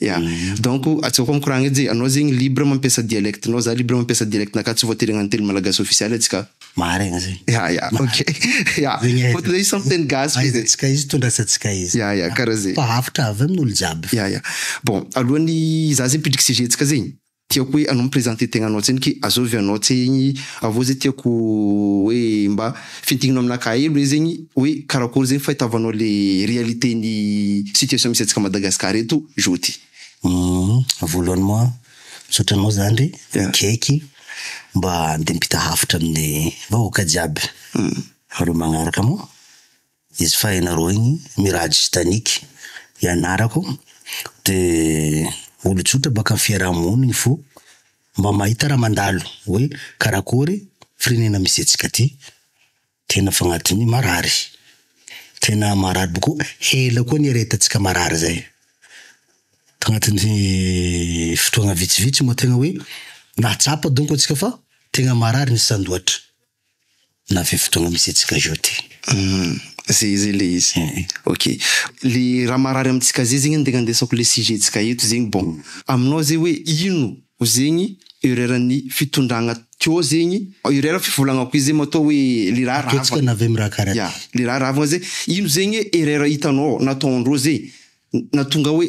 Ya. Donc atsaoako mikoragna edy e, anao zegny libre mampiasa dialecte nao, za libre mampiasa dialecte nakah, tsy voatery hagnano teny malagasy ofisialy atsika. Marigna zegny. Ya ya ok ya fôtony izy samy teny gasy fô zay. Ahaizantsika izy, tondrasantsika izy. Ya ya karaha zay. Fa avotra avy amin'olo jiaby. Ya ya bon alohan'ny za zegny hipidriky sujet-tsika zegny, Tiako hoe anao mi-presenter tegnanao tsiny ke azovy anao tse igny avao zay tiako hoe mba fintinino aminakahy elo hoe zegny hoe karakory zegny fahitavanao le réalité ny situation misy antsika Madagascar eto jour ty. Voalohany moa misaotra anao zandry akaiky mba andeha ampita hafatra amin'ny vahoaka jiaby ireo magnaraka moa Izy faheno aroa igny, Miraj Stanik i anarako. Dia olon-tsotra baka amin'ny fiaraha-monina igny fo mba mahita raha mandalo hoe karakory firenena misy antsika aty. Tena fa agnatin'ny marary. Tena marary boko. Ela koa niaretantsika marary zay. Tagnatin'ny fotoagna vitsivitsy moa tena hoe nahatsapa donko antsika fa tena marary ny sandoatra. na ve fotoana misy antsika zao ty. Humm zay zay le izy eh eh. Ok le raha marary amintsika zay zegny antegna andesako le sujet ntsika eto zegny bon aminao zay hoe ino zegny erreur ny fitondragna teo zegny erreur fivolagnako izy zay matoa hoe le raha rava ataontsika na ve mirahaka raha ty le raha ravagna zay ino zegny erreur hitanao nataondreo zay natonga hoe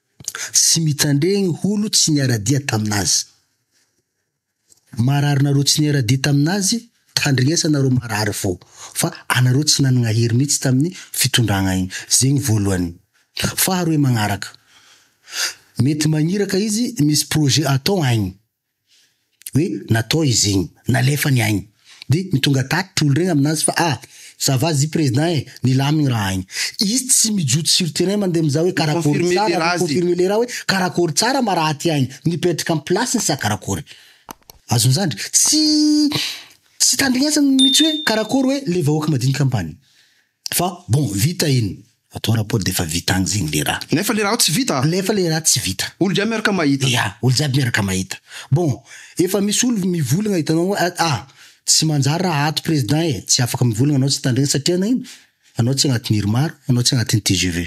Tsy mitandregny holo tsy niara-dia tamin'azy. Marary nareo tsy niara-dia tamin'azy, tandregnesan nareo marary fô. Fa anareo tsy nanagna hery mihitsy tamin'ny fitondragna igny. Zegny voalohany. Faharoe magnaraka, mety magniraka izy misy projet atao agny. Hoe natao izy igny, nalefa ny ainy. Dia ny tonga tatitra olo regny aminazy fa ah! ça va zy président eh! Nilamigny raha igny. Izy tsy mijotso sur terrain mandeha mizaha hoe karakôry tsara, mi-confirmer le raha hoe karakôry tsara ma raha aty ainy. Mipetraka am place-ny sa karakôry. Azony zany ndry? Tsy tsy itandrinesany mitsy hoe karakôry hoe le vahoaka madiniky ampany. Fa bon vita iny. Atao rapport defa vita agny zegny le raha. Nefa le raha tsy vita. Nefa le raha tsy vita. Olo jiaby miaraka mahita. Ya, olo jiaby miaraka mahita. Bon, efa misy olo mivolagna hitanao hoe ah ah, tsy manjary raha ato president e, tsy afaka mivolagna anao tsy tandregny satria nagnino? Anao tsy agnatin'ny irmar, anao tsy agnatin'ny tgv.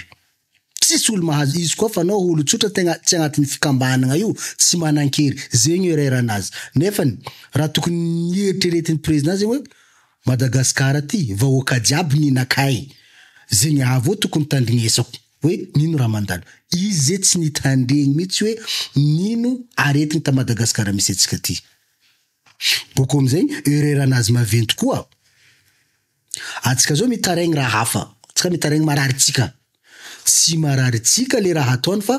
Tsisy olo mahazo izy koa fa anao olo tsotra tegna tsy agnatiny fikambahanagna io tsy manankery zegny irerana azy nefany raha tokony nieritreretiny president zegny hoe Madagascar ty vahoaka jiaby nina kay zegny aveo tokony tandrignesako hoe nino raha mandalo izy ze tsy nitandregny mitsy hoe nino aretigny ta Madagascar misy atsika ty boko amizegny irerana azy maventy koa. Antsika zao mitaraigny raha hafa, antsika mitaraigny marary tsika, tsy marary tsika le raha ataony fa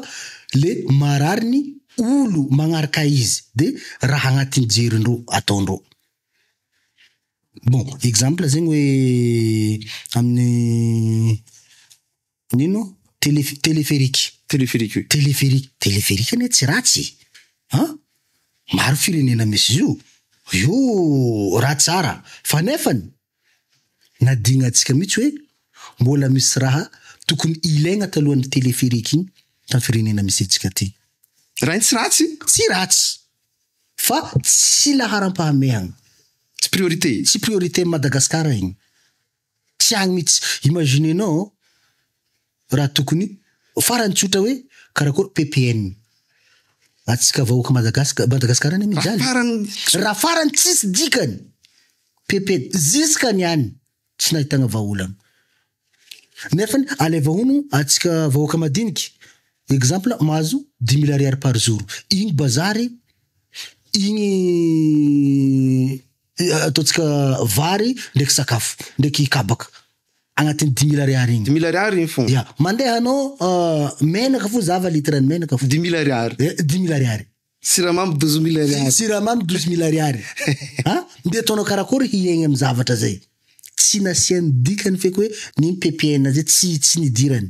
le marary ny olo magnaraka izy de raha agnatin'ny jerindreo ataondreo. Bon exemple zegny hoe amin'ny Nino? Tele- téléphérique. Téléphérique oui. Téléphérique. Téléphérique anie tsy ratsy e! an! Maro firenena misy zio. Io raha tsara. Fa nefany, nadignantsika mihitsy hoe mbola misy raha tokony ilaigna talohan'ny téléphérique igny tam firenena misy antsika ty. Raha igny tsy ratsy? Tsy ratsy. Fa tsy laharam-pahamehagna. Tsy priorité. Tsy priorité am Madagascar igny. Tsy agny mitsy. Imaginenao raha tokony farany tsotra hoe karakory ppn atsika vahoaka Madagascar, Madagascar anie mijaly raha farany tsisy dikany ppn ziska ny any tsy nahitagna vahaolana nefany alaiva hono atsika vahoaka madiniky exemple mahazo dix mille ariary par jour igny bazary igny Ataontsika vary ndreky sakafo ndreky kabaka agnatin'ny dimy mille ariary igny. Dimy mille ariary igny fô. Ya, mandeha anao menaka fô zava litre ny menaka fô. Dimy mille ariary. Eh, dimy mille ariary. Siramamy douze mille ariary. Siramamy douze mille ariary. Ha? Ndeha ataonao karakory hiaigny amin'ny zavatra zay? Tsy nasiany dikany feky hoe ny ppn zay tsy tsy nidirany.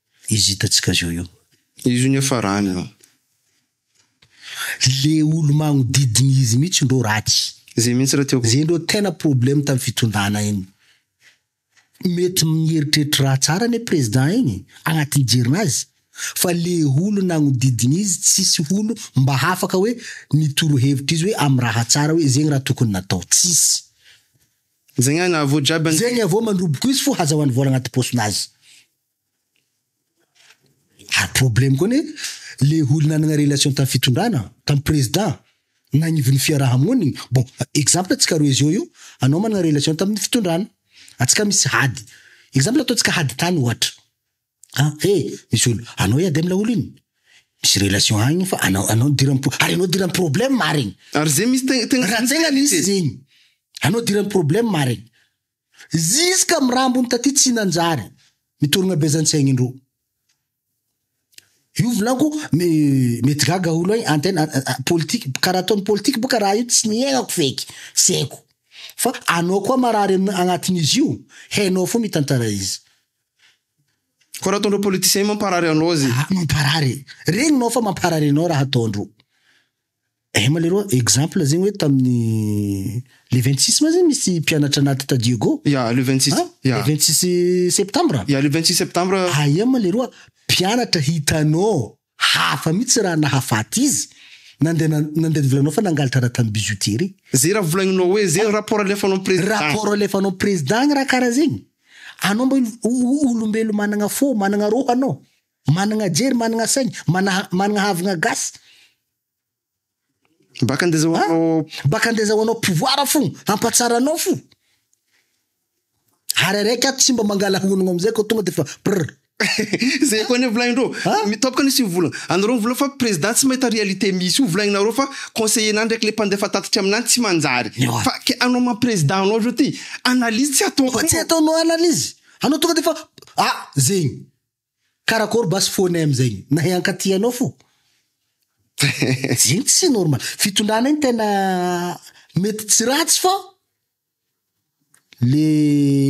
izy hitantsika zao io. Izy io niafarany an. Le olo magnodidina izy mihitsy ndro ratsy. Zay mihitsy ra tiako. Zay ndro tena problème tam fitondrana iny. Mety mieritreritra raha tsara anie président iny agnatin'ny jerinazy fa le olo nagnodidina izy tsisy olo mba hafaka hoe ny torohevitra izy hoe am raha tsara hoe zegny raha tokony natao. Tsisy. Zegny any avô jiaby an. Zegny avô mandroboko izy fô hazahoany vôla agnaty paosinazy. Ary problème koa anie le olo nanagna relation tam fitondrana, tam président, nagnivon'ny fiaraha-moniny, bon exemple antsika roe zao io, anao managna relation tamin'ny fitondrana, antsika misy ady, exemple ataontsika ady tany ohatra, an he misy olo, anao hiady am laolo iny, misy relation agny fa anao anao nidiran'ny pro- ary anao nidiran'ny problème marigny, Ary ze misy tegna tegna raha tegna misy zegny, anao nidiran'ny problème marigny. Ziska am rambony taty tsy nanjary mitorogna be zany saigny ndro io volako me mety gaga olo an tena politika kara ataony politika boka raha io tsy niaignako feky tsy aiko fa anao koa marary am agnatin'izy io hainao fô mitantara izy. Ko raha ataondreo politiciens mamparary anao ze. Mamparary e! Regninao fa mamparary anao raha ataondreo. Eh malheureux exemple zegny hoe tamin'ny le 26 ma zegny misy mpianatra anaty Tadiego? Ya, le 26. An? Ya. Le 26 septambra? Ya, le 26 septambra. Aia ma leroa mpianatra hitanao hafa mihitsy raha nahafaty izy, nandeha na- nandeha nivolanao fa nangalatra raha tamin'ny bijouterie. Ze raha volagninao hoe ze rapport alefanao am président. Rapport alefanao am président gny raha karaha zegny? Anao mba olo- o- o- olombelo managna fo, managna rô anao? Managna jery managna saigny manaha managna havagna gasy. Baka ndeza ho anao. Baka ndeza ho anao pouvoir fogna hampatsara anao fo. Ary araiky ato tsy mba mangala honogno amizay ko tonga defa prr. Zay koa anie volagnindreo. Mitôboka ny sivy volagna. Anareo mivola fa président tsy mahita réalité misy io volagninareo fa conseiller-na ndraiky le mpandefa tatitry aminany tsy manjary. Ewa. Fa ke anao maha président anao zao ty analyse tsy ataonao. Fa tsy ataonao analyse. Anao tonga defa ah zegny. Karakôry basy fo anay amizay nahay hankatia anao fo zegny tsy normal fitondranay tena mety tsy ratsy fa le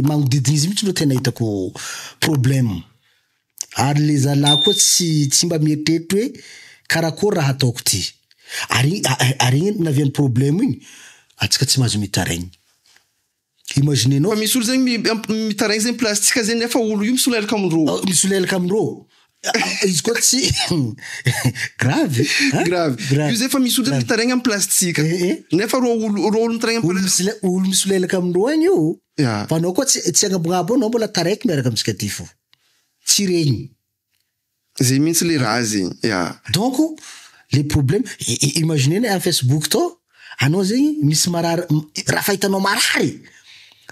magnodidigny izy mitsy no tena hitako problème ary le zalahy koa tsy tsy mba mieritreritra hoe karakôry raha ataoko ty ary ary igny naviany problème igny atsika tsy mahazo mitaraigny. Imagine nao. Fa misy olo zegny mi- miamp- mitaraigny zegny plastika zegny nefa olo io misolelaka amin' rô. Ao, misolelaka amin' rô. A- Izy koa tsy grave. hein? Grave. Grave. Io zay fa misy olo zany mitaraigny amin' plastika. Eh, eh. Nefa rô olo rô olo mitaraigny amin' Olo plastika. misole- olo misolelaka amin' rô any io. Ya. Fa anao koa tsy tsy agnabognabo ao, anao mbola taraiky miaraka amintsika ty fo. Tsy regny. Zay mintsy le raha zegny yeah. Donc le problème imagine ny am facebook tao anao zegny misy marary raha fahitanao marary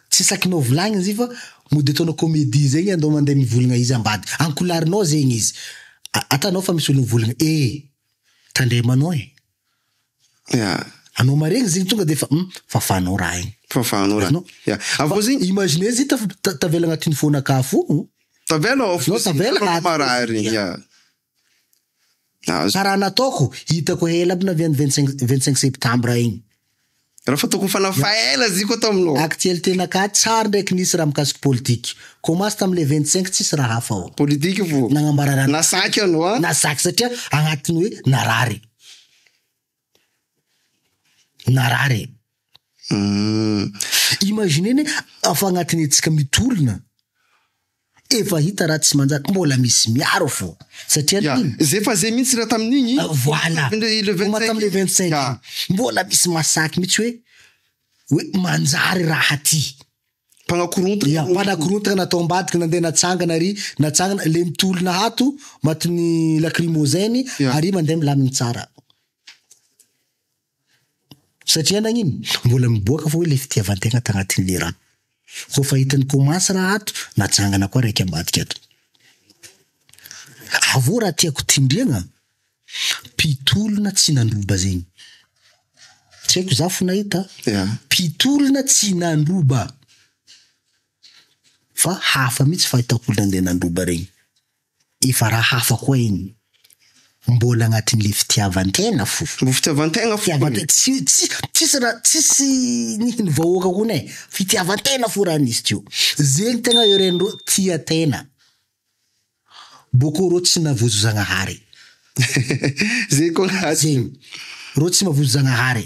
tsy sakinao volagniny zay fa mody ataonao comedie zegny andao mande mivolagna izy ambady ankolarnao zegny izy atanao fa misy olo mivolagna ee tandremanao e. Ya. Anao maregny zegny tonga defa hum fafanao raha igny. Fafanao raha. Anao. Ya. Avy eo zegny. Imaginer izy taf- ta- tavela agnatin'ny fôn'akafo o. Tavela ao Anao tavela fotsiny. agnaty. Marary. Ya. Azo. Karaha nataoko, hitako ela aby na avy any vingt cinq vingt cinq septembre igny. Raha fa tokony fanahy faela ziko ato aminao. Aktiel tena ka tsar ndraiky nisy raha mikasik politik. Komasy tam le 25 tsisy raha hafa ao. Politik vo Nagnambara raha na saky ianao a. Na saky satria agnatin hoe narary. Narary e. Hum. Imaginez ne afa agnatin etsika mitolona. Efa hita raha tsy manjary mbola misy miaro fô satria le iny. Zay fa zay mintsy raha tamin'igny. Voilà le vingt cinq iny mbola misy masaky mintsy hoe hoe manjary raha ty. Mpanakorontana. Ya mpanakorontana natao ambadika nandeha natsangana ary natsangana le mitolona hato matin'ny lacrymogène ary mandeha milamigny tsara. Satria nagnino? Mbola miboaka foa ilay fitiavan-tegna tagnatin'ilay rà. Koa fa hitan'i Thomas raha ato, najangana koa raiky ambadika ato. Avô raha tiako tendregna, mpitolona tsy nandroba zegny. Tsy haiko za fo nahita, mpitolona tsy nandroba. Fa hafa mihitsy fahitako olona ndeha nandroba regny. Efa raha hafa koa iny. Mbola agnatin'le fitiavan-tegna fo. Mbo fitiavan-tegna fo. Fitiavan-tegna, tsy tsy tsisy raha tsisy nihin'ny vahoaka hono e, fitiavan-tegna fo raha nisy teo. Zegny tegna irenereo tia tegna, bôkô reo tsy navozo Zagnahary. Zegny koa agnatiny. Zegny, reo tsy mavozo Zagnahary.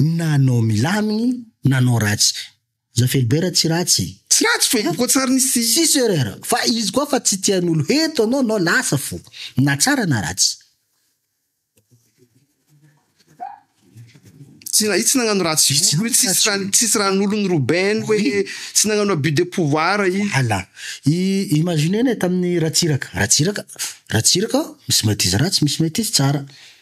na anao milamigny na anao ratsy za Felibera tsy ratsy e! Tsy ratsy fô io koa tsary nisy. Tsisy erreur fa izy koa fa tsy tian'olo heto anao nao lasa fô na tsara na ratsy. Tsy na izy tsy nagnano ratsy Izy tsy nagnano ratsy olo tsisy raha nolo ny Robin hoe tsy nagnano abus de pouvoir izy. Voilà i imagine ne tamin'ny Ratsiraka, Ratsiraka Ratsiraka misy maîtrise ratsy misy maîtrise tsara.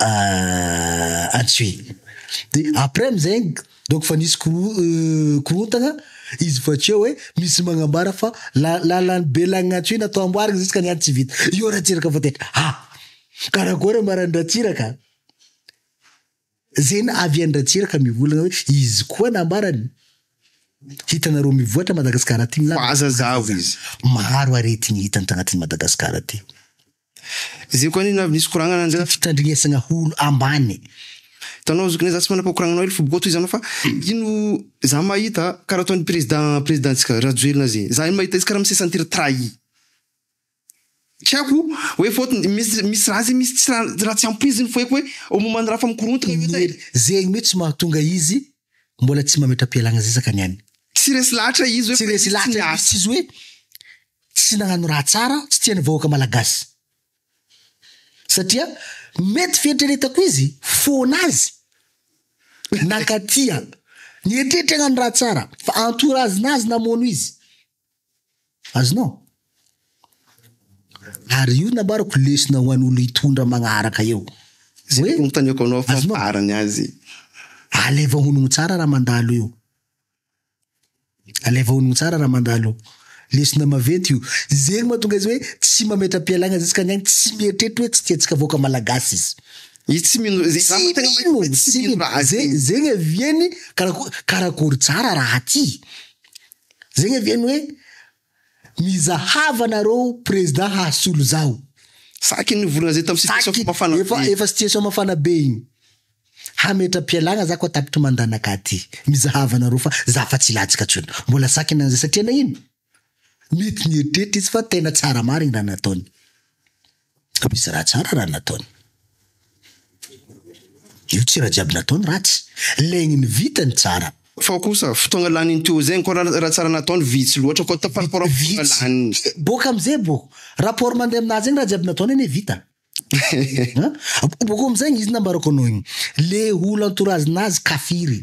ah atsy de après amizay donc fa nisy koro- euh, korontagna izy fa tsy eo hoe misy magnambara fa la- lalan'i belagnatsoy natao amboarigny ziskany any tsy vita io ratsiraka fa tena ah karakôry ambaran'i ratsiraka zegny na avy an-dratsiraka mivolagna hoe izy koa nambarany hitanareo mivoatra madagasikara aty ny lala Fa aza zavo izy. maro aretigny hita tagnatin'i madagasikara aty. Zay ko anina avy nisy koragnana anzay a. Fitandrinesagna holo ambany. Hitanao zokiny e za tsy manapa koragnana hely fobo toy izany fa ino za mahita karaha ataony président président ntsika Rajoelina zay za mahita izy karaha mi se sentir trahi. Tsy haiko hoe faute misy misy raha zay misy tsy raha tsy ampy izy ny foeko hoe momba ny raha fa mikorontana io zay. Zegny mitsy mahatonga izy Mbola tsy mametra-pialagna-zezaka ny an'ny. Tsy resy lahatra izy hoe Tsy resy lahatra izy tsy izy hoe tsy nagnano raha tsara, tsy tian'ny vahoaka malagasy. Satria mety fieritreretako izy foana azy nankatia, nieritreritra hagnano raha tsara fa antorazina azy namono izy. Azonao? Ary io nambarako lesona ho an'olo hitondra magnaraka eo. Zay no notaniako anao fa farany azy. Alaivo honogno tsara raha mandalo io. Alaivo honogno tsara raha mandalo io. Lesona maventy io. Zegny mahatonga izy hoe tsy mametra-pialagna ziskany agny, tsy mieritreritra hoe tsy tiantsika vahoaka malagasy izy. Izy tsy mino ze- Tsy mino, tsy mino. Ze- zegny aviany karako- karakory tsara raha ty. Zay anie ny hoe mizahava nareo president hahasolo zaho. Saky ny volana zay tam situation fa mafana be. Efa efa situation mafana be igny. Hametra-pialagna za koa tapitry mandanaka aty. Mizahava nareo fa za fa tsy ilajika tsony. Mbola saky ny an'izay satria nagnino? Mety nieritreritra izy fa tena tsara marigny raha nataony. Fa misy raha tsara raha nataony. Io tsy raha jiaby nataony ratsy. Legny ny vitany tsara. Fa kosa fotoagna lanin'ny Teo zegny koa raha raha tsara nataony vitsy loatra koa par rapport amin'ny fotoagna laniny. Vitsy. Boaka amizay bo rapport mandeha aminah zegny raha jiaby nataony anie vita. An! Boko amizay izy nambarako anao igny. Le olo entourage nazy kafiry.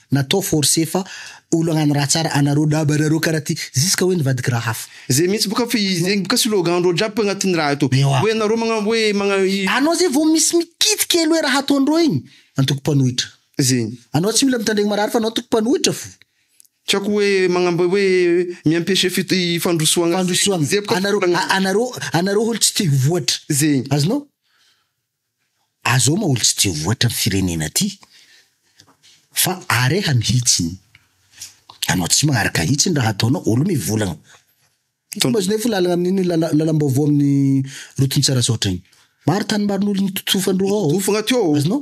Natao force fa olo agnano raha tsara anareo laba anareo kara ty ziska hoe nivadiky raha hafa. Zay mihintsy boka fa zegny boka slogan ndreo jiaby agnatiny raha ito Ewa. hoe nareo magna hoe magna i. Anao zay vao misy mikidy kely hoe raha ataondreo igny antoko mpanohitra. Zegny. Anao tsy mila mitandregny marary fa anao antoko mpanohitra fo. Tiako hoe magnamb hoe mi empêcher fit i fandrosoagna zegny. Fandrosoagna. Zay boka Anareo a anareo anareo olo tsy te ho voatra. Zegny. Azonao. Azao maoly tsy dia voatra ny firenena ty fa areha mihitsiny anao tsy maharaka hitsiny raha ataonao olo mivolagna ity mazo nefa lalagna amin'iny lalambaovao amin'ny rotontsarasaotra iny maro tany maron'olo nototofan-droa ao azonao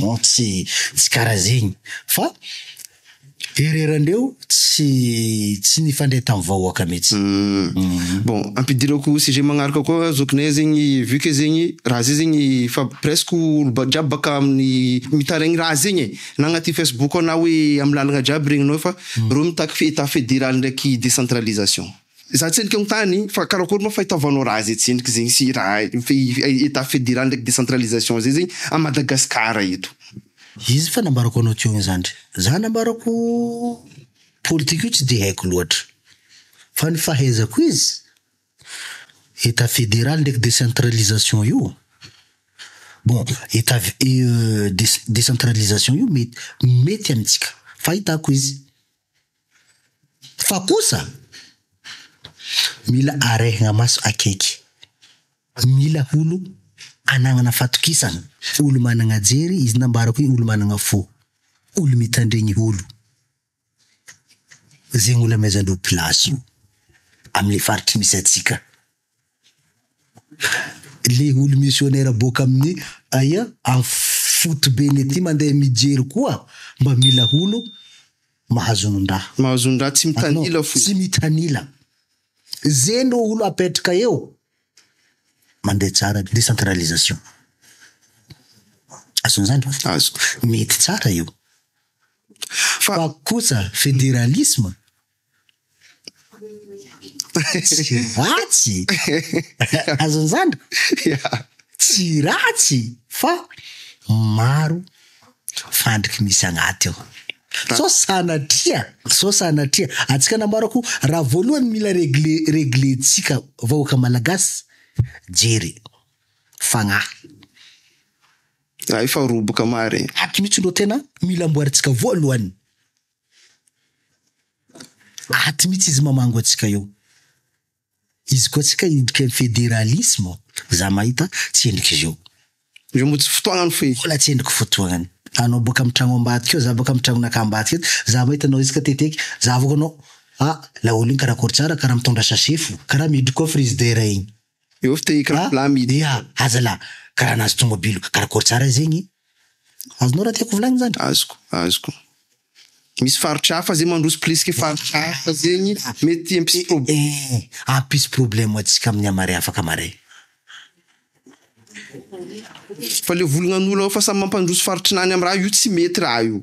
Non tsy tsy karaha zegny fa ererandreo tsy tsy nifandray tamin'ny vahoaka mihitsy. Uhm bon ampidirako sujet magnaraka koa zokinay zegny vu que zegny raha zay zegny efa presque olo jiaby baka amin'ny mitaraigny raha zegny e na agnaty facebook ao na hoe amin'ny lalagna jiaby regninao fa reo mitaky état fédéral ndraiky décentralisation. Za tsy henika mitany fa karakory ma fa itaovanao raha ze tsy heniko zegny sy raha etat federal ndraiky decentralisation zay zegny a Madagascar eto. Izy fa nambarako anao teo igny zandry, za nambarako politique io tsy de haiko loatra fa ny fahaizako izy etat federal ndraiky decentralisation io bon etat decentralisation io mety mety amitsika fahitako izy. Fa kosa mila arehina maso akaiky, mila olo anagnana fatokisana, olo managna jery, izy nambarako hoe olo managna fo, olo mitandregny olo, zegny olo amezan'ireo place io, amle faritry misy atsika. le olo missionnaire boaka amin'ny aia amin'ny fotobeny aty mandeha mijery koa mba mila olo mahazonondraha mahazonondraha tsy mitanila fo tsy mitanila ze no olo apetraka eo mandeha tsara décentralisation azony zany azoko mety tsara io fa kosa fédéralisme Tsy ratsy azony zany tsy ratsy fa maro fandriky misy agnaty ao sao sanatria sao sanatria antsika nambarako raha voalohany mila regle reglentsika vahoaka malagasy jery fagnahy Zay efa roboka marigny. Ato mihitsy no tena mila amboarintsika voalohany. Aty mihitsy izy mamango antsika eo. Izy koa antsika hidika ny federalisma ao. Za mahita tsy endrik'izy io. Io moa tsy fotoagnany fe. Mbola tsy endriko fotoagnany. Anao boaka am tragno ambadika eo, za boaka am tragnonaka ambadika eto, za mahita anao isaka teteky, za avoaka anao, ah laolo iny karakory tsara kara mitondra sachet fo, kara miditra koa frigidaire iny. Dia aza la karaha nahazo tomobilo karakôry tsara izy zegny? Azonao raha tiako volagnina zany? Azoko, azoko. Misy faritra hafa zay mandroso plisky faritra hafa zegny, mety hampisy problema. Ehe, hampisy problema antsika amin'ny hamare afaka maray. Fa le volognan'olo ao fa samy mampandroso faritrinany amin'ny raha io tsy mety raha io.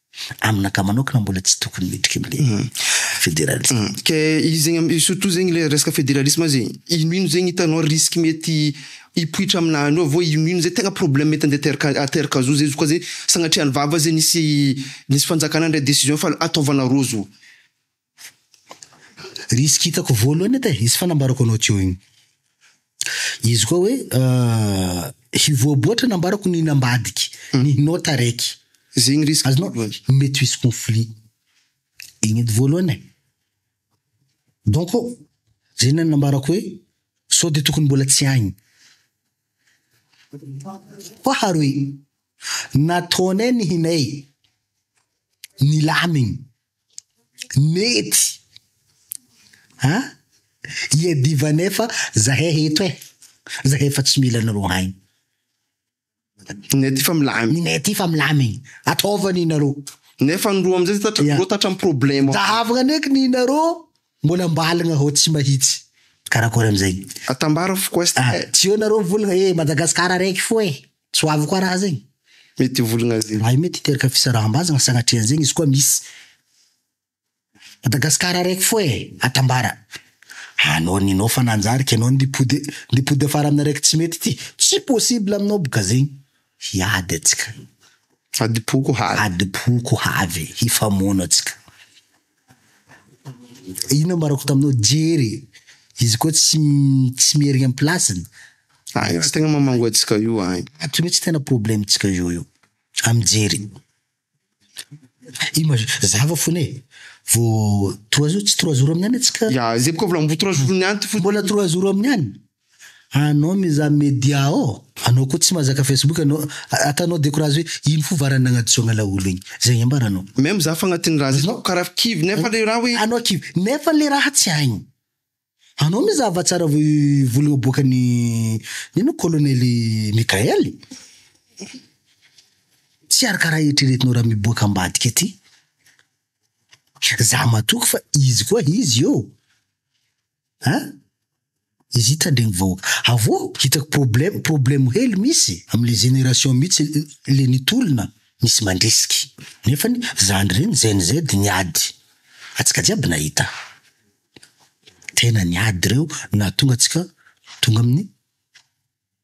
Aminakahy manokana mbola tsy tokony miditra amle federalisme. Ke izy zegny surtout zegny le resaka federalisme azy e, ino ino zegny hitanao risque mety hipoitra aminany ao vao ino ino zay tegna problème mety ande ateraka ateraka zo zay zo ka zay sagnatria ny vava zay nisy nisy fanjakana nandray decision fa ataovana roa zo. Risque hitako voalohany eto e, izy fanambarako anao teo iny. Izy koa hoe hivoaboatra nambarako ny hinambadiky, ny hinao taraiky. Zegny risque voalohany. Azonao? Mety ho hisy conflit. Igny edy voalohany e. Donc, zay ny nambarako hoe sao de tokony mbola tsy agny. Faharoe, nataonay ny hinay nilamigny, Mety a! Iadivana efa zahay eto e! Zahay efa tsy mila anareo any. Ninay aty fa milamina. Ninay aty fa milamigny. Ataova ny nareo. Nefa ny roa amizay tatra yeah. roa tatra problème. Zahavagna neky ny nareo mbola ambaligna hao tsy mahitsy. Karakory amizay. Atambara foko est. Ah, tsy eo nareo mivolagna e Madagascar araiky fo e. Tsy ho avy koa raha zegny. Mety ho volagna zegny. Raha io mety hiteraka fisaraham-bazana sagnatria zegny izy koa misy. Madagascar araiky foa e! Atambara. Anao ninao fa nanjary ka enao ndy pode ndy pode afara aminy araiky tsy mety ty. Tsy possible aminao boka zegny. Hiady atsika. Adim-poko ho havy. Adim-poko ho havy. Hifamono atsika. Ino ambarako taminao jery e. Izy koa tsy tsy mierigna am place-ny. Ay raha tegna mamango antsika io ay. Ato mihitsy tena problème tsika io io am jery. Image zava fona e. Vô trois jours tsy trois jours aminy any atsika. Ya zay bôka volambo trois jours ny any ty fo. Mbola trois jours aminy any. Anao mizaha media ao? Anao koa tsy mazaka facebook anao? Ataonao decourage hoe ino fo varany nagnadisoagna laolo igny? Zay igny ambaranao. Même za fagnatin'ny raha zay hitako karaha kivy nefa le raha hoe. Anao kivy nefa le raha tsy hainy. Anao mizaha va tsara vao i volagna aboakany ino colonel Mickael? Tsy arakaraha eritreretinao raha miboaka ambadika aty. Za matoky fa izy koa izy io. An! Izy ita ndre ny vahoaka. Avô hitako problème problème hely misy am le génération mitsy le ny tolona misy mandrisiky. Nefany zandry reny gen Z niady. Atsika jiaby nahita. Tena niady reo nahatonga atsika tonga aminy.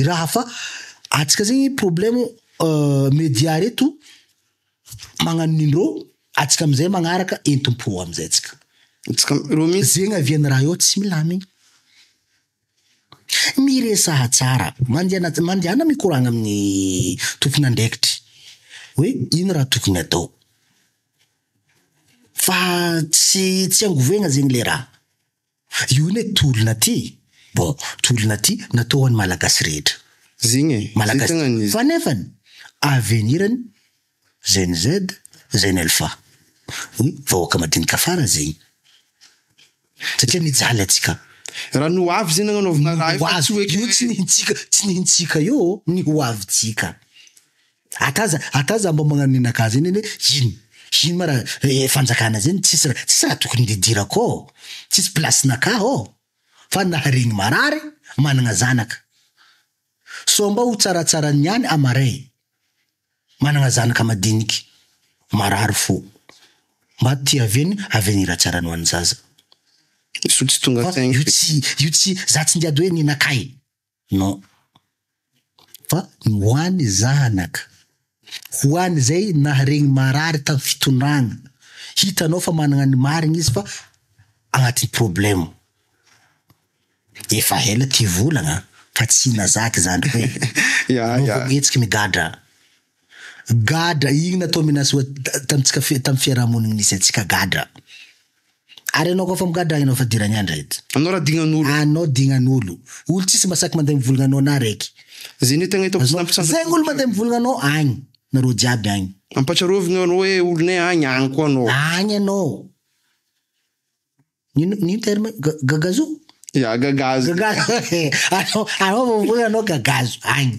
I raha fa atsika zegny problemo media reto magnano nimero atsika amizay magnaraka entompo amizay atsika zegny aviany raha eo tsy milamigny miresaha tsara mandiana mandiana mikoragna amin'ny tompon'andraikitry hoe ino raha tokony atao fa tsy tsy angovegna zegny le raha. Io ne tolona ty bon tolona ty natao ho an'ny malagasy rehetra. Zigny e, zay tegna ny izy. Fa nefany avenir ny Gen Z, Gen Alpha, ny vahoaka madinika fara zegny satria mijaly atsika. Raha ny hoavy zegny nagnanaovana raha io fa tsy hoe ke. Io tsy ny hintsika, tsy ny hintsika io, ny hoavitsika. Ata aza ata aza mba magnano ny naka zegny anie ino ino ma ra fanjakana zegny tsisy ra tsisy ra tokony hididirako ô tsisy place naka ô fa naharegny marary managna zanaka sao mba ho tsaratsara niany amaray managna zanaka madiniky marary fo mba tiavegny avy ny ra tsarany ho any zaza io tsy tonga saigny io tsy io tsy za tsy niady hoe ny naka e. Non. Fa ny ho any zanaka. Ho any izay naharegny marary tam fitondragna. Hitanao fa managna ny marigny izy fa agnaty problème. Efa ela ty volagna fa tsy nazaka izany hoe. Anao vao mihetsiky migadra. Gadra, iny natao menace oa tamintsika tamin'ny fiarahamoniny misy antsika gadra. Ary ianao koa fa migadra ianao fa dirany andra eto. Anao ra dignan'olo. Anao dignan'olo. Olo tsisy masaky mandeha mivolagna anao na raiky. Ze nentagna hitako tsy nampitsangana. Zay olo mandeha mivolagna anao agny. Nareo jiaby agny. Ampatsiarovigno anao hoe olonay agny, agny koa anao. Agny anao. Nino nino terme io? Ga- gagazo? Ya gagazo. Gagazo. Anao anao vao mivolagna anao gagazo agny.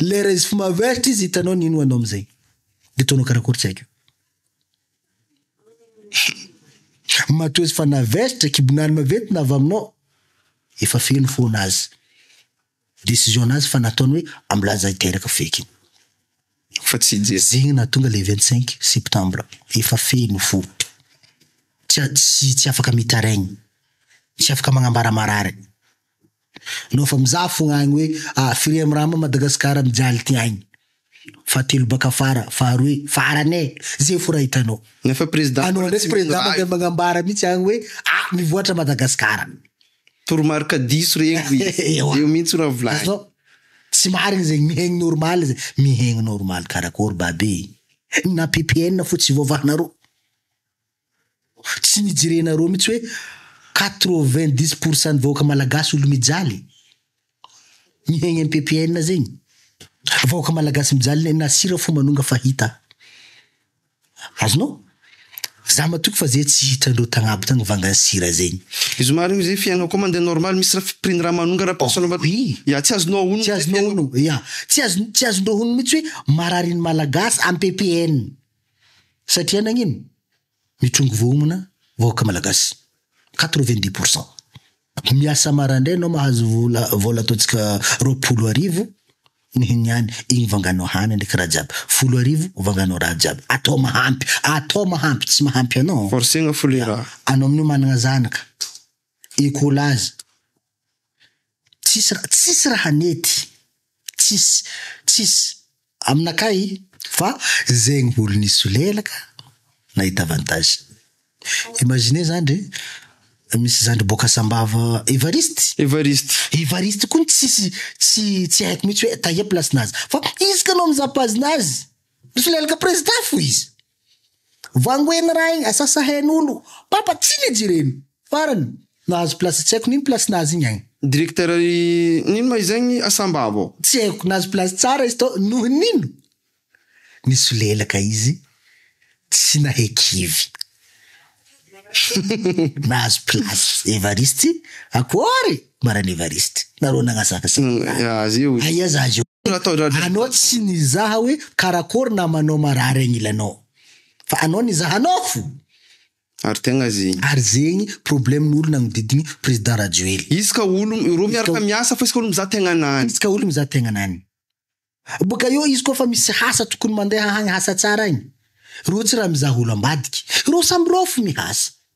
Lera izy fmaveritra izy hitanao ny inoanao amzay de ataonao karakory tsy haiko. Matoa izy fa naveritra kibon'arme vety na avy aminao efa feno foana azy decision nazy fa nataony hoe amlanja hiteraka feky iny fa tsy hijery zegny nahatonga le vingt cinq septembre efa feno fo tsy tsy afaka mitaraigny tsy afaka magnambara marary. Nao fa mizaha fogna agny hoe a firy am rama Madagascar mijaly ty agny. Fahatelo baka afara, faharoe, farany e! Ze fo raha hitanao. Nefa président Anao ndray président mandeha magnambara mitsy agny hoe a mivoatra Madagascar. Toromarika diso regny ry Ewa. Eo mintsy raha volagny. Azon tsy marigny zegny mihegny normal ze mihegny normal karakory babe e! Na ppn fo tsy voavahanareo. Tsy nijerenareo mihitsy hoe quatre vingt dix pour cent ny vahoaka malagasy olo mijaly mihaigny am ppn zegny vahoaka malagasy mijaly ne na sira fo manonga fa hita azonao za matoky fa zay tsy hitrandreo tagnabo tagny vangany sira zegny. Izy marigny io zay fiainana koa mandeha normal misy ra prix ny raha manonga ra prix ny raha ya tsy azonao honogno tsy azonao honogno ya tsy azondreo honogno mihitsy hoe marary ny malagasy am ppn. satria nagnino? mitrongy vohomana vahoaka malagasy quatre vingt dix pour cent miasa marandray anao mahazo vola vola ataontsika roapolo arivo ny ny any igny vanganao hany ndraiky raha jiaby folo arivo vanganao raha jiaby atao mahampy atao mahampy tsy mahampy anao forcegna fo le raha anao amin'io managna zanaka école azy Tsisy raha, tsisy raha nety, tsisy, tsisy aminakahy fa zegny olo nisolelaka nahita avantage. Imaginez zany ndre misy zandry boaka Sambava Evariste, Evariste, Evariste koa ny tsisy tsy tsy haiko mitsy hoe taia place nazy fa izy ka no mizaha page nazy misolelaka président fo izy. Vangoen'i Rainy Asasahenolo, Papa Tsinijy ireny! Farany, nahazo place tsy haiko n'ino place nahazo igny agny. Directeur i n'ino ma izay gny asambava ao? Tsy haiko, nahazo place tsara izy tao noho n'ino? Nisolelaka izy tsy nahay kivy. Nahazo place Evariste, akory! Maraina Evariste, nareo nagnasakasaka ahy. Aia za io? Anao tsy nizaha hoe karakory namanao marary agnilanao fa anao nizaha nofo. Ary tegna zegny. Ary zegny problème ny olona agnodidigny président Rajoely. Isaka olo roa miaraka miasa fa isaka olo mizaha tegnanany. Isaka olo mizaha tegnanany. Boka eo izy koa fa misy hasa tokony mandeha hagny hasa tsara agny. Reo tsy raha mizaha olo ambadiky. Reo samy rofy mihasa.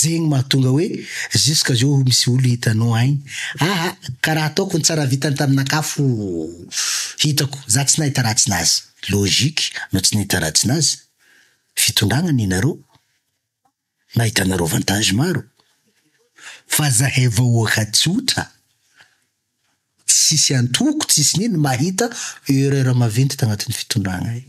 Zegny mahatonga hoe jusqu'à zao misy olo hitanao agny aa ka raha ataoko ny tsara vitany tamin'aka fo hitako za tsy nahita ratsy nazy, logique no tsy nahita ratsy nazy, fitondrana ny nareo nahitanareo avantage maro fa zahay vahoaka tsotra tsisy antoko tsisy nino mahita erreur maventy tagnatin'ny fitondrana io.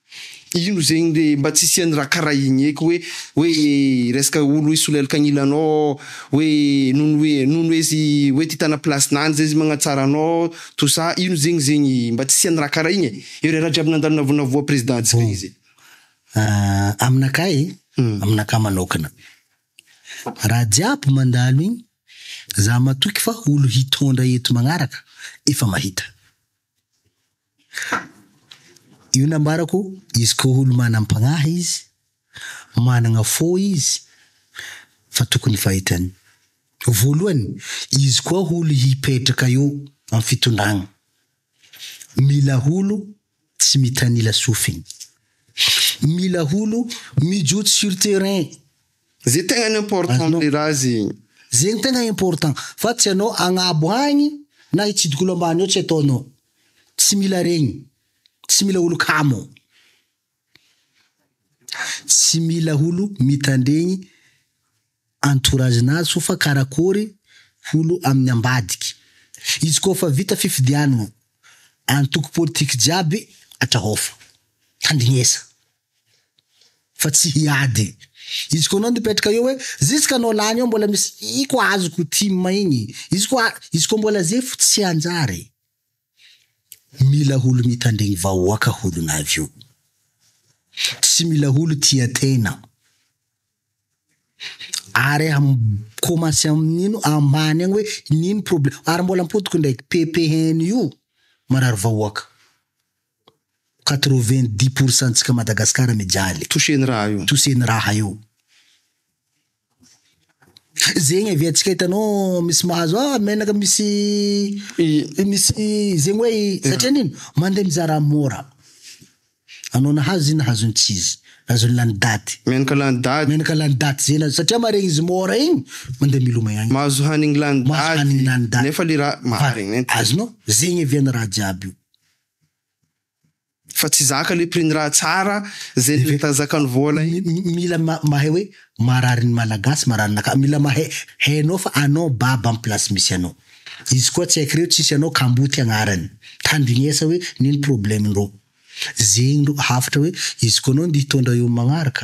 Ino zegny re mba tsy hisian'ny raha karaha igny eky hoe hoe resaka olo hoe solelaka agnila anao hoe noho ny hoe noho ny hoe izy hoe te hitana place-nany zay izy magnatsara anao tout ça ino zegny zegny mba tsy hisian'ny raha karaha igny e! eo re raha jiaby nandalo navonavoa président ntsika igny zay. Aminakahy aminakahy manokana raha jiaby mandalo igny za matoky fa olo hitondra eto magnaraka efa mahita. Ha! Io nambarako izy ko olo manam-pagnahy izy, managna fo izy fa tokony fahitany. Voalohany izy koa olo hipetraka eo am fitondragna, mila olo tsy mitanila sofigny, mila olo mijotso sur terrain Ze tegna important rera azy. Ze no tegna important fa tsy anao agnabo agny na hitsidika olo ambany ao tsy ataonao. Tsy mila regny. Tsy mila olo kamo. Tsy mila olo mitandregny entourage nazy fô fa karakôry olo amin'ny ambadiky. Izy koa fa vita fifidianagna, antoko politique jiaby atrahaofo. Tandrignesa. fa tsy hiady. Izy koa anao nipetraka eo hoe zisy ka anao lany eo mbola misy i koa azoko tim igny izy koa izy koa mbola ze fo tsy hanjary mila holo mitandregny vahoaka holo na avy eo tsy mila holo tia tegna ary am commence amin'ino ambany agny hoe nino problème ary mbola ampodiko ndraiky pepeheny io marary vahoaka. Quatre-vingt dix pour cent ntsika Madagascar mijaly. Touché ny raha io. Touché ny raha io. Zegny avy atsika hitanao misy mahazo ah menaka misy misy zegny hoe satria nino mandeha mizaha raha mora. Anao nahazo izy nahazo ny tsy izy. Nahazo ny lany daty. Menaka lany daty. Menaka lany daty zegny nahazo satria maharegny izy mora igny mandeha milomay agny. Mahazo hanigny lany daty. Mahazo hanigny lany daty. Nefa le raha maharegny. Azonao? Zegny avy any raha jiaby io. Fa tsy zaka le prix ny raha tsara zay le zakan'ny vola iny. Mila mahay hoe marary ny malagasy marary ny aka mila mahay hainao fa anao baba am place misy anao izy koa tsy haikireo tsisy anao kamboty agnarany tandinesa hoe nino probleme ndrô zegny ndrô hafatra hoe izy koa anao nde hitondra eo magnaraka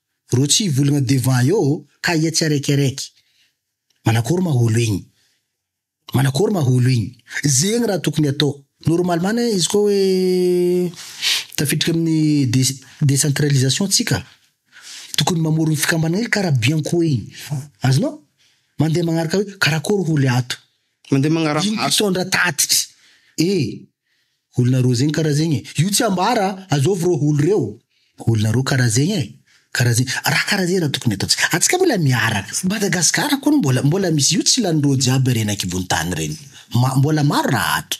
Reo tsy hivolagna devant eo ka ia tsy araiky araiky. Manakôry ma olo igny? Manakôry ma olo igny? Zegny raha tokony atao. Normalement anie izy koa hoe tafiditra amin'ny des- decentralisation tsika, tokony mamorogny fikambanana hely karaha Bianco igny. Azonao? Mandeha magnaraka hoe karakôry olo ato. Mandeha magnaraka Ino asa. mpitondra tatitry? E! Olona roa zegny kara zegny e! Io tsy ambara, azovy reo olo reo. Olona roa kara zegny e! Kara zegny, raha kara zegny raha tokony ataontsika. Atsika mbola miaraka. Madagascar koa mbola mbola misy io tsy lanin'ireo jiaby reny ankibon'ny tany reny. Ma- mbola maro raha ato.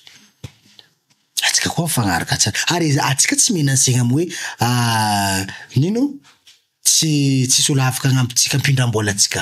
Atsika koa mifagnaraka tsara. Ary atsika tsy menacegna am hoe ah nino? tsy tsy soloavaka agnampitsika ampindram-bola atsika.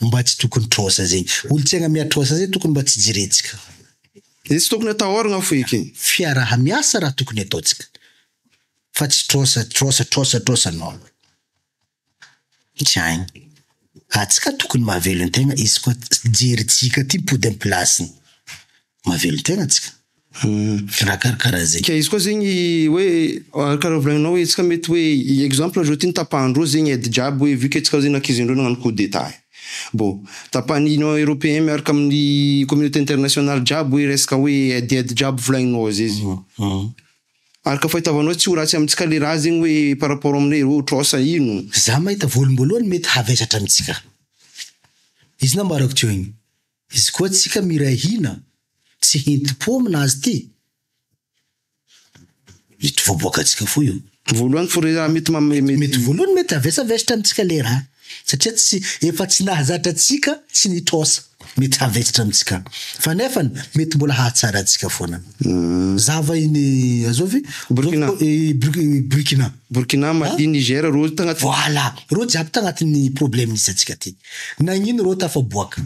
Mba tsy tokony trosa zay. Olotsaina miatrosa zay tokony mba tsy jerentsika. Izay tsy tokony atahoragna fo ekeny. Fiaraha miasa raha tokony ataontsika fa tsy trosa trosa trosa trosa non. Tsy hainy. Atsika tokony mahavelon tegna izy koa jery jika ty mipody am pilasiny. mahavelon-tena antsika. Raha karakaraha izay. Ka izy koa zegny hoe karaha volagninao hoe antsika mety hoe exemple zao ty ny tapahandreo zegny aide jiaby hoe vu que tsika zegny ankiziandreo nagnano coup d'etat e. Bon, tapahan'ny union europeen miaraka amin'ny communauté internationale jiaby hoe resaka hoe aide aide jiaby volagninao zay izy. Araka fahitavanao tsy ho ratsy amintsika le raha zegny hoe par rapport aminay reo tros a ino? Za mahita voaloham-boalohany mety havesatra amintsika izy nambarako teo igny. Izy koa tsika miray hina sy hintim-po aminazy ty. Mety voaboaka tsika fo io. Voalohany fo re raha mety mety. Mety voalohany mety havesavestra amintsika le raha satria tsy efa tsy nahazatra antsika tsy nitrosa mety havesatra amintsika fa nefany mety mbola hahatsara antsika foana zava iny azovy Burkina Burkina Burkina Mali Niger reo tagnaty voila reo jiaby tagnatin'ny problème misy antsika ty. Nagnino reo tafaboaka?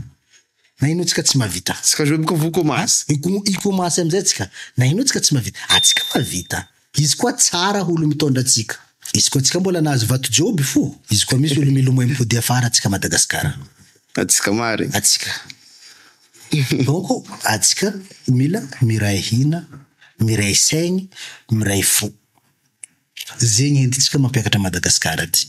Nagnino tsika tsy mahavita? Tsika jouer boka vokomasy. Hikomasy amizay tsika. Nagnino tsika tsy mahavita? Atsika mahavita. Izy koa tsara ho olo mitondra atsika. Izy koa tsika mbola nahazo vato joby fo. Izy koa misy olo milomay mipody afara atsika Madagascar. Atsika marigny. Atsika. Donc atsika mila miray hina, miray saigny, miray fo. Zegny entintsika mampiakatra Madagascar ty.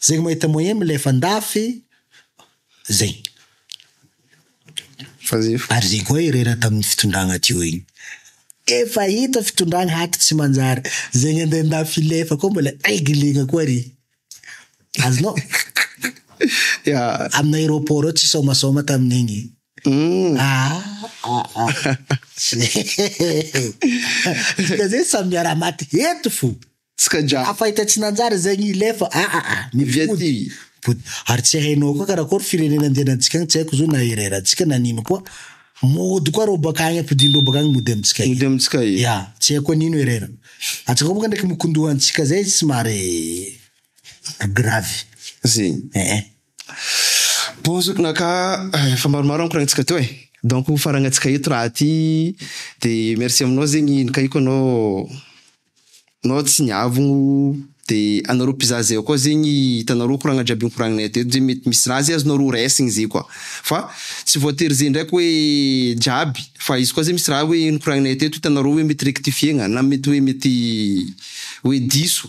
Zegny mahita moyen milefa andafy zegny. Ary zegny koa irery ato amin'ny fitondragna aty igny. Efa hita fitondragna ato tsy manjary. Zegny andeha andafy hilefa koa mbola reglena koa re. Azonao? Amin'ny aéroport ao tsy sômasôma tamin'igny. Dikan'izay samy miara-maty eto fo. Tsikanja. Hafa hita tsy nanjary izay ny ilefa a a a. Ny vody. Vody. Ary tsy hainao koa karakory firenena andehanantsika agny tsy haiko zo na hirairantsika na nino koa mody koa reo baka agny ampodiany reo baka agny mody amintsika e. Mody amintsika e. Ya. Tsy haiko hoe nino herera. Antsika koa baka ndraiky mikondoha antsika zay somary gravy. Ze. Eh eh. Bon zo na ka efa maromaro ankoragnitsika teo e. Donc ho farangantsika eto raha ty de merci aminao zegny nikaiko anao Nao tsy niavogno de anareo mpizaha zay koa zegny hitanareo koragna jiaby nikoragninay aty eto zay mety misy raha zay azonareo ho raisigny zay koa fa tsy voatery zay ndraiky hoe jiaby fa izy koa zay misy raha hoe nikoragninay aty eto hitanareo hoe mety rectifier-gna na mety hoe mety hoe diso.